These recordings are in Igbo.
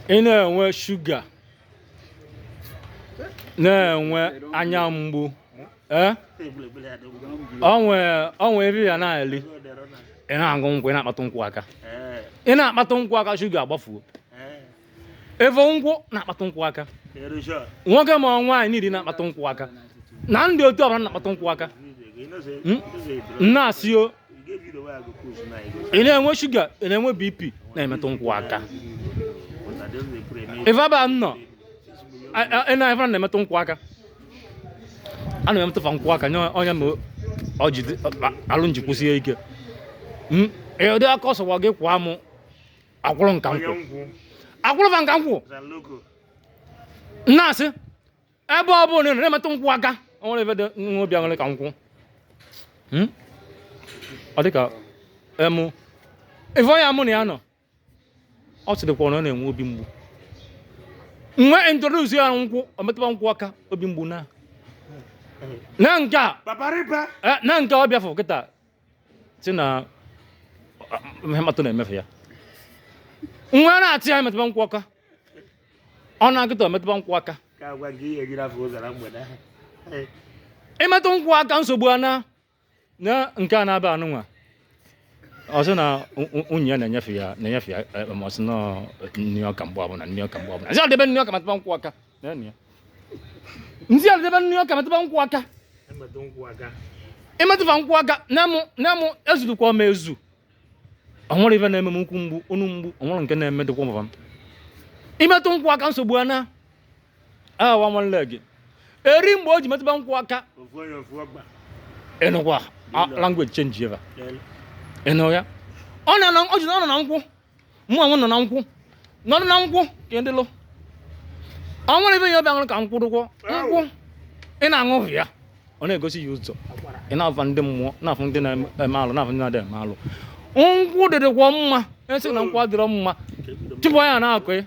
ị na-enwe shuga na-enwe anya mgbu ee o nwe ife ya na-eli ị na-aṅụ nkwụ ị na-akpatụ nkwụ aka ị na-akpatụ nkwụ aka shuga agbafuo ịfụ nkwụ na-akpatụ nkwụ aka nwoke ma nwaanyị niile na-akpatụ nkwụ aka na ndị otu ọbụla na-akpatụ nkwụ aka m na-asị o ị na-enwe shuga ị na-enwe bp na-emetụ nkwụ aka ife aba m nọ a- a- ị na-efe na-emetụ nkwụ aka a na-emetụ fa nkwụ aka nye onye ma ọ ji dị- a- alụ gị kwụsie ike Mm, ị ụdị aka ọ sọwa gị kwụọ mụ akwụrụ nka nkwụ akwụrụ fa nka nkwụ na-asị ebe ọ bụla na emetụ nkwụ aka o nwere ife dị nwa obi aṅụrị ka nkwụ Hmm? ọ dịka emu ife onye mụ na ya nọ ọ sịrịkwa na ọ na-enwe obi mgbu m wee introduce ya nkwụ ọ metụba nkwụ aka obi mgbu naa nee nke a Papa Ripa. eh, nee nke ọ bịafụ kịta sị na ihe mkpatụ na-emefe ya nwa na-asị ya metụba nkwụ aka ọ na-agụta metụba nkwụ aka ka agwa gị ihe gị n'afọ ụzara mgbede ahụ Ee, ịmetụ nkwụ aka nsogbu anaa nee nke a n'ebe anụnwa ọ sị na u- u- nwunye ya na-enyefe ya na-enyefe ya eh, ma ọ sị na nni ọka mgbe ọbụla nni ọka mgbe ọbụla sị ọ debe nni ọka metụba nkwụ aka m sị ya debe nni ọka metụba nkwụ aka ịmetụba nkwụ aka na-emụ ezudukwa m ezu ọ nwere ife na-eme m ukwu mgbu onu mgbu ọ nwere nke na-eme dịkwa mba m ịmetụ nkwụ aka nsogbu anaa awa nwanne gị eri mgbe o ji metụba nkwụ aka ị nụkwa language change ebe ị nụ ya ọ na-anọ ọ ji na ọ nọ na nkwụ mụ onwe nọ na nkwụ nọdụ na nkwụ ka ị dịlụ ọ nwere ife ya ọbịa ṅụrụ ka nkwụ dụkwọ nkwụ ị na-aṅụ ya ọ na-egosi ya ụzọ ị na-afụ ndị mmụọ na-afụ ndị na-eme alụ na-afụ ndị na-adịghị eme alụ nkwụ dịdụkwọ mma a sị na nkwụ adịrọ mma tupu anya na-akụ ya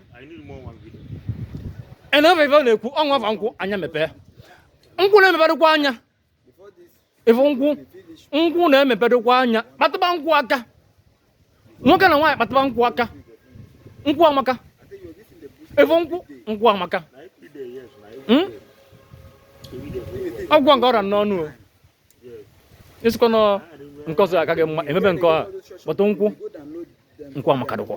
ị na-efe ife ọ na-ekwu ọ ṅụba nkwụ anya mepee nkwụ na-emepedokwa anya ịfụ nkwụ nkwụ na-emepedokwa anya kpatụba nkwụ aka nwoke na nwaanyị kpatụba nkwụ aka nkwụ amaka ịfụ nkwụ nkwụ amaka hmm? ọgwụ nke ọra n'ọnụ ọ sịkwa na nke ọzọ agaghị mma emepe nke ọha kpọtụ nkwụ nkwụ amaka dịkwa